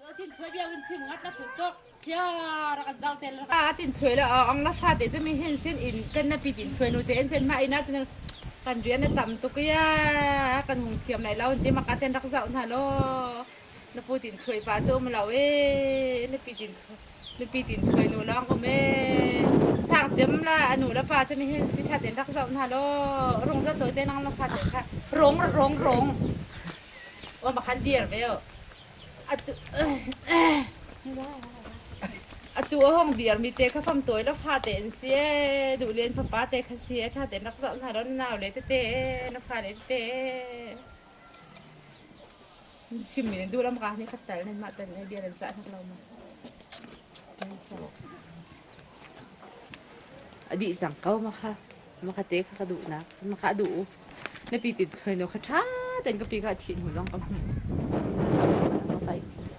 Atin thuai bia in sim ngat na phul tok thia ra kan dal tel a atin thuai la ong la fa te chami hin sin in kan na pi tin thuai nu te en sen ma ina chin kan rian na tam tuk ya kan hung thiam lai lo ti makaten rak zau na lo na pu tin thluai pa cu um lo e nupi tin nupi tin thluai nu lawng um e sang cem la anu le pa cu mi hin si that in rak zoh hna law rung za tawi te nang na fa te kha rong rong rong o ma khan dir ve o atu atu o hong dir mi te kha fam tawi la fa te in si e du len fa pa te kha si e tha ten rak zoh hna law nau le te te na fa le te Nan chimmi nan duh lo maka nih khat tal nan mah tal nih bia nan cah hnok lo maw? Nan cah. A dih cang ko maka maka te kha ka duhnak maka duh u. Na pi tin suai no kha ṭha ten ka pi ka thih hnu zong ka hmu. Maka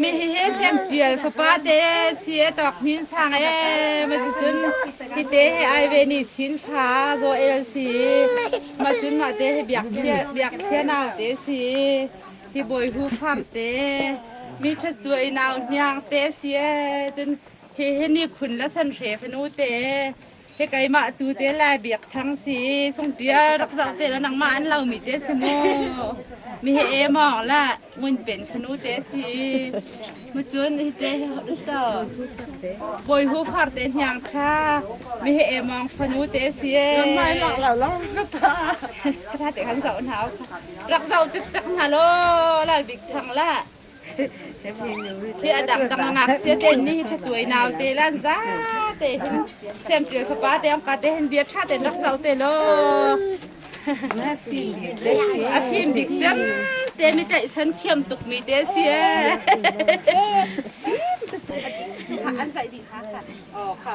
Mihihi sem ṭial fapa te si a tawk hnin sang e ma ci cun hite he ai ve ni chin fa zo el si ma cun ma te he biak thia biak thia nau te si hi boi hu fam te mi ṭhat chu ei nau hniang te si e cun hi hi ni khun la san hre fanu te Hi keimah tu te Lai Biakthang si sungṭia rak zoh te la nangmah an lomi te si mu mi hi e mawng la ngun pen khanu te si mu cun hi te so bawi hu far te hniang ṭha mi hi e mawng fanu te si e mai lak la lo kha te kan zoh hna kha rak zoh cik cak hna lo Lal Biakthang la khi adam tam ngak se te ni tha chuai nau te lan za te hin sem pil fapa te am ka te hin bia tha ten rak zau te lo a phim dik cem te ni te san thiam tuk mi te si an sai di ha ka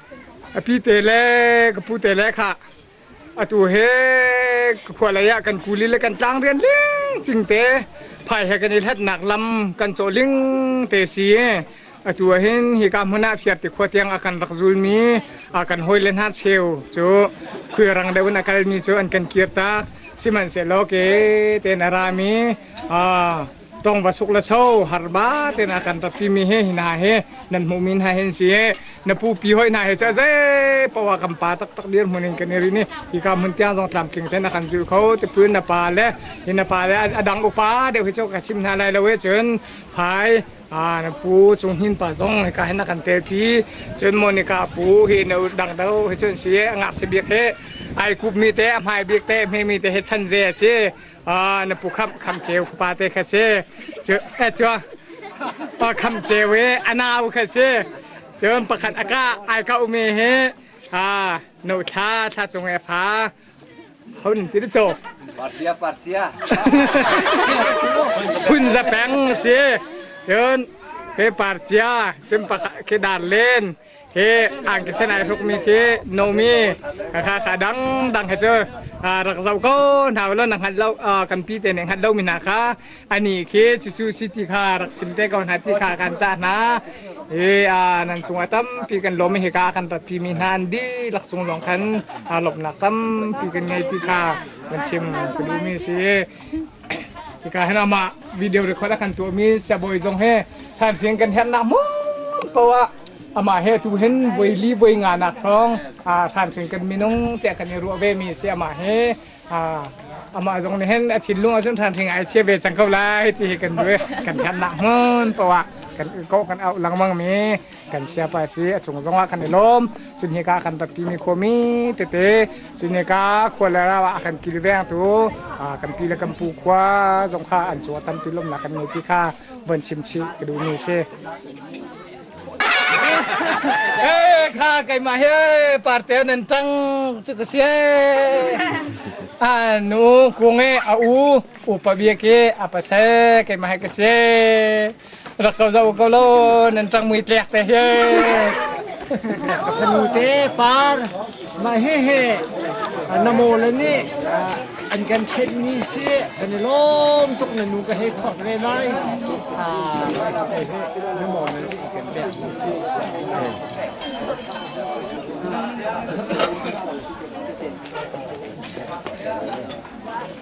A pite le ka pute le kha atu he ka khua lei ah kan kuli le kan tlang rian ling cingte phai he kan i hlatnak lam kan cawh ling te si atu ah hin hi ka hmun ah phiar ti khua tiang a kan rak zul mi a kan hoi le hna cheu cu khuy rang deuh in a kal mi cu an kan kir tak sihmanhsehlaw ke te na ra mi a tong va suk le so har ba te na kan rat mi he hina he nan hmu min ha hen si he na pu pi hoi na he cha ze pawa kam pa tak tak dir mun in kan ri ni hi ka mun tiang zong tlam king ten kan zul kho te pun na pa le hin na pa le adang upa de hu cho ka chim na lai lo he chun phai a na pu chung hin pa zong ka hen na kan te thi chun monica pu hi na dang do he chun si ngak se biak he ai kup mi te hmai biak te me mi te he chan ze si Ah, na pu kham kham ceu pa te kha si cu eh cua pa kham ceu i anau kha si cun pakhat aka ai ka umi hi ah no thla thla cung e pha hun ti chu parcia parcia hun za peng si cun pe parcia cun pakhat khi dar len hi an ka sen ai rukmi khi nomi kha kha dangdang he cu rak zau ko hna lo na hngat lo kan pi te nih hngat lo mi hna kha ani khi cucu city kha rak sim te ko hna ti kha kan cha hna i nan cungah tampi kan lom hi ka kan rat pi mi hna an di laksung long khan lopnak tampi kan ngei ti kha kan chim ka duh mi si Hika hen amah video record a kan tuahmi siabawi zong he thansian kan herhnak mu ko ah amah he tu hen voi li voi nga nak hrong thansian kan minung te kan i ruah ve mi si amah he amah zong nih hen a thinlung ahcun thanhring ai chia ve cang ko lai ti hi kan duai kan herhnak mun po ah kan ko kan au langmang mi kan siapa si a chung zong ah kan i lawm cun hika kan rak ti mi khuami tete cun hika khua le raw ah kan kilveng tu kan pi le kan pu khua zong kha an cu tan ti lomnak kan ngei ti kha van chim chih ka duh mi si kha keimah he parte nan tang chu ka si a nu kunge a u upa bia ke apa se keimah he ka si rak ko zo ko lo nan ṭang mui tlek te hi ka fanu te par mah he he namo la nih an kan chet ni si kan i lawm tuk na nu ka he khok re lai namo na si kan pek ni si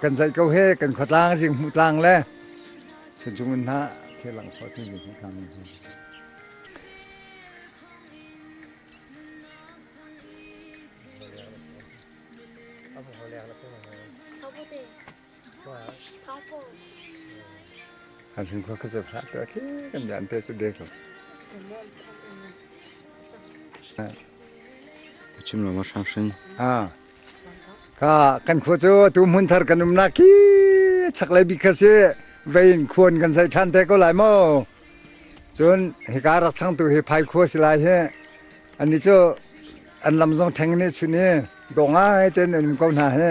kan zaih ko he kan khuatlang jing hmu tlang le sanchung in hna khi lang khua thi ni hi kang ni han hun khua khazab hla ta khi kan jan te chu de ko chim lo ma sang sin ah Ka kan khua cu tu hmun thar kan umnak khi chaklei bik kha si vein khuan kan sai ṭhan te ko lai maw cun hika rak changtu hi phai khua si lai hi ani cu an lam zong ṭheng ne chun i do ngai ten an um ko hna hi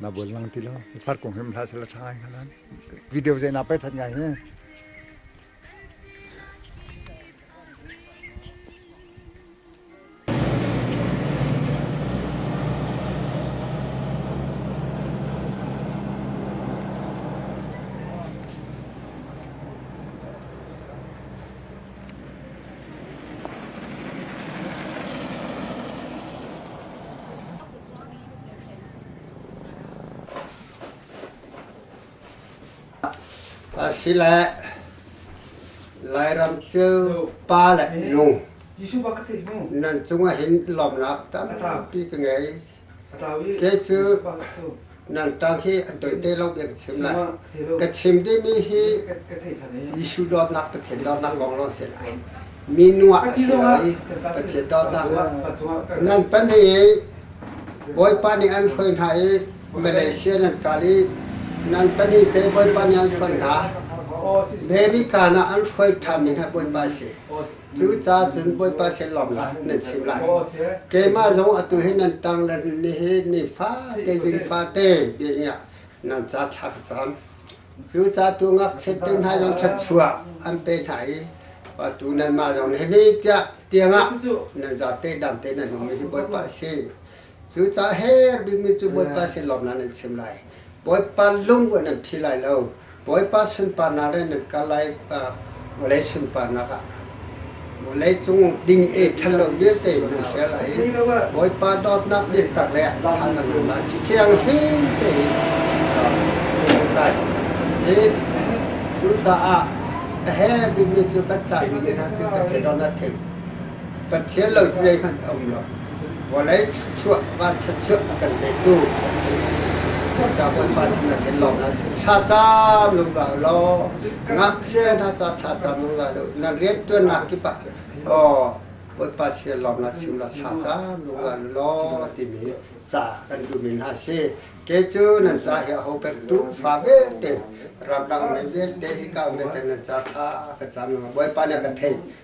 na bol lang ti lo par kong him hla sala tha ngai nan video je na pe that ngai ne Asile Lairam cu pa le nu nan cungah hin lawmnak tampi ka ngei. Kei cu nangtang hi an toih te lo bia ka chim lai. Ka chim dihmi hi Jesuh dawtnak Pathian dawtnak kong lawng si lai. Minu ah a si lai, Pathian dawtnak ah. Nan pahnih Bawipa nih an hruai hna i Malaysia nan kal i nan pahnih te Bawipa nih an hruai hna. American ah an hruai ṭhanmi hna Bawipa a si. Cucaah cun Bawipa sin lawm la nan chim lai. Keimah zong atu hi nan ṭang le ni hi ni fate zing fate dingah nan ca thla ka cam. Cucaah tu ngakchiat te hna zong thluachuah an pe hna i tu nanmah zong nih ni tiah tiangah nan zate dam te nan um hi Bawipa a si. Cu ca her bikmi cu Bawipa sin lawmnak nan chim lai. Bawipa lungvuah nan phi lai lo. Bawipa sunparnak le nan kal lai vawlei sunparnak ah vawlei cung ding e ṭhalo vialte nan hrial lai i Bawipa dawtnak biatak le thazaang nan lai thianghlim tein nan hmuh lai. Hi cucaah a he bikmi cu kan caan bikmi hna cu kan thinlung na thim. Pathian lo cu zeihmanh a um lo. Vawlei thluachuah, van thluachuah a kan petu Pathian si. Cucaah Bawipa sinah khin lawm hlah seh. Thlacam zungzal u law, ngakchia hna ca thlacam zungzal u. Na rianṭuannak kip ah aw Bawipa sin lawm hlah seh, law thlacam zungzal u law timi ca kan duhmi hna a si. Kei cu nan ca hi aho pektu fa vialte, ramdang mi vialte, hika um vialte nan ca thla ka cam zungzal. Bawipa nih a ka theih.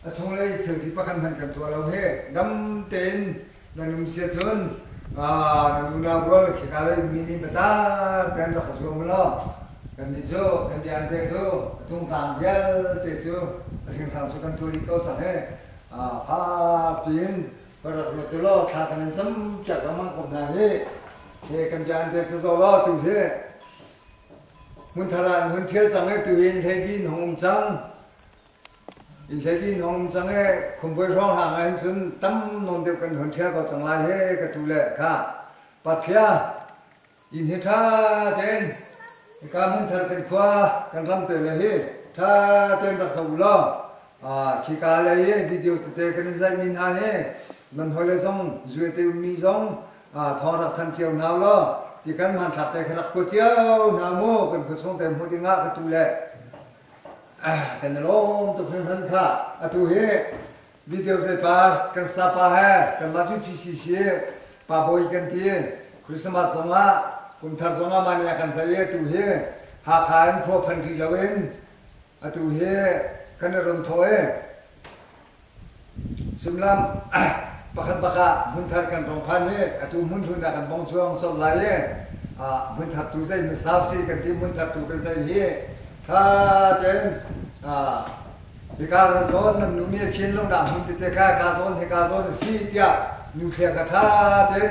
A chunglei thilti pakhat hmanh kan tuah lo hi dam tein nan um si ahcun nan unau rual khika lei mi nih biatak tein rak ka zuam law kannih cu kan biate cu a tungtlang vialte cu a hringhran cu kan tuah rih ko cang i fapi in va rak ruat u law thla kan in campiak lengmang ko hna hi hi kan biate cu zaw law tu hi hmun thar ah an hun thial cang i tu in hlei bi an hung um cang Inn hleidin a um cang i khumbuai hrawng hlang ah hin cun tam nawn deuh kan hun ṭhial ko cang lai he ka tu le ka. Patphia inn hi ṭha tein hika hmun thar kan khua kan ram te le hi ṭha tein rak zoh u law khika lei i video tete kan in zaihmi hna hi nan hawile zong zue te ummi zong thawng rak thanh cio hna u law ti kan hmanthlak te kha rak kuat cio hna u mu kan khuachung te hmu ding ah ka tu le kan i lawm tuk hringhran kha. Atu hi video zeipar kan sapa he kanmah cu PCC Pa Bawi kan ti. Christmas zong ah, kumthar zong ah mah ni ah kan saih i atu hi Hakha in khua phan rih lo in atu hi kan i rum thaw i Sullam, Pakhat bak ah hmunthar kan hrawng phan i atu hmun hlun ah kan bong chuang colh lai i hmunthartu zei hmasau si kan ti hmunthartu kan zei hi ṭha tein hika zawn nan nu nge khin lo dang hin tete ka ka zawn hi ka zawn a si tiah nu thlia kha ṭha tein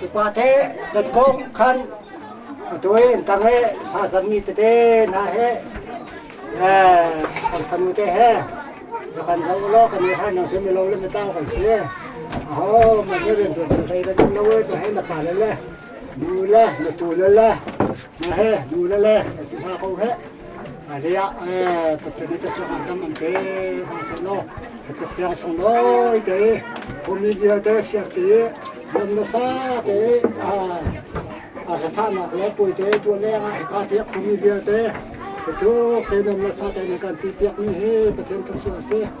Tupate tatkawng khan atu in tang i sasami tete hna he kan fanute he rak kan zoh law kan i hal nang sim i lo le matau kan si. Aho man i rian ṭuan thei bantuk lo na he na pale le nu le na tu le le na he nu le le na si hna ko heh. Hmailei ah Pathian nih biacuang ah khan an pek hna sehlaw hi tluk tiang sunglawi te phumi vialte fiak ti lam le sa te a sathahnak le pui te tua leng ah hika ti a phumi vialte hi tluk tein lam le sa te nih kan ti piakmi hi Pathian thluachuah a si.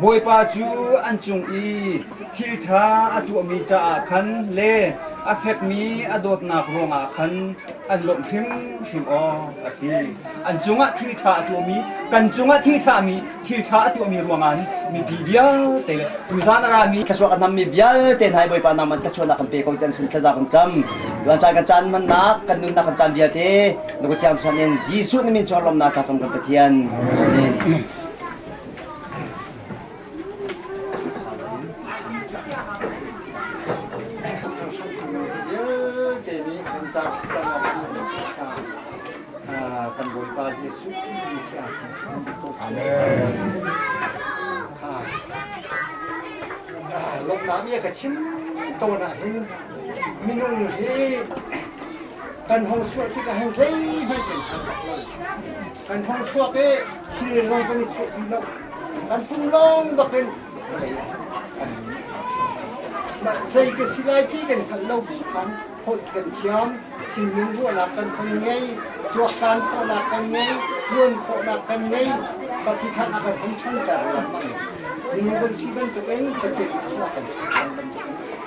Bawipa cu an cung i thil ṭha a tuahmi caah khan le a fekmi a dawtnak ruangah khan an lawmh hrimhrim awk a si. An cungah thil ṭha a tuahmi, kan cungah thil ṭhami, thil ṭha a tuahmi ruangah hin mipi vialte le tuzan a rami thluachuah kan hmangmi vialte hna hi Bawipa nangmah thluachuahnak kan pe ko tiah an sin thlaza kan cam. Tuan caan kan caan hmannak, kan nunnak kan caan vialte na kuthiang ṭhan in Jesuh na min chungah lawmnak tla cang kan Pathian. Amen. vialte nih an cah kan Bawipa Jesuh Khrih lawmnak nih a ka chim tawn ah hin minung hi kan hong chuah tikah hin zeihmanh kan hngal lo Kan hong chuak i thil zong kan i chawh ti lo. Kan pum lawng bakin vawlei ah kan mah zei ka si lai ti kan hngalh lo bik khan holh kan thiam, thinlung ruahnak kan hong ngei, tuaktan khawhnak kan ngei, ṭuan khawhnak kan ngei, patikhan a kan hong ṭhangter lengmang. Minung kan si bantukin Pathian nih khua kan chuah cang bantukin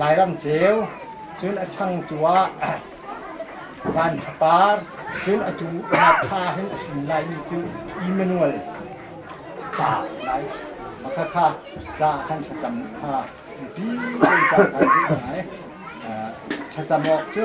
Lairam ceu, cun a changtu ah Van Tha Par, cun atu Hakha hin a hrin laimi cu Emmanuel pa a si lai. Makhakha ca khan thlacam kha mipi ca khan din lai. Thlacam awk cu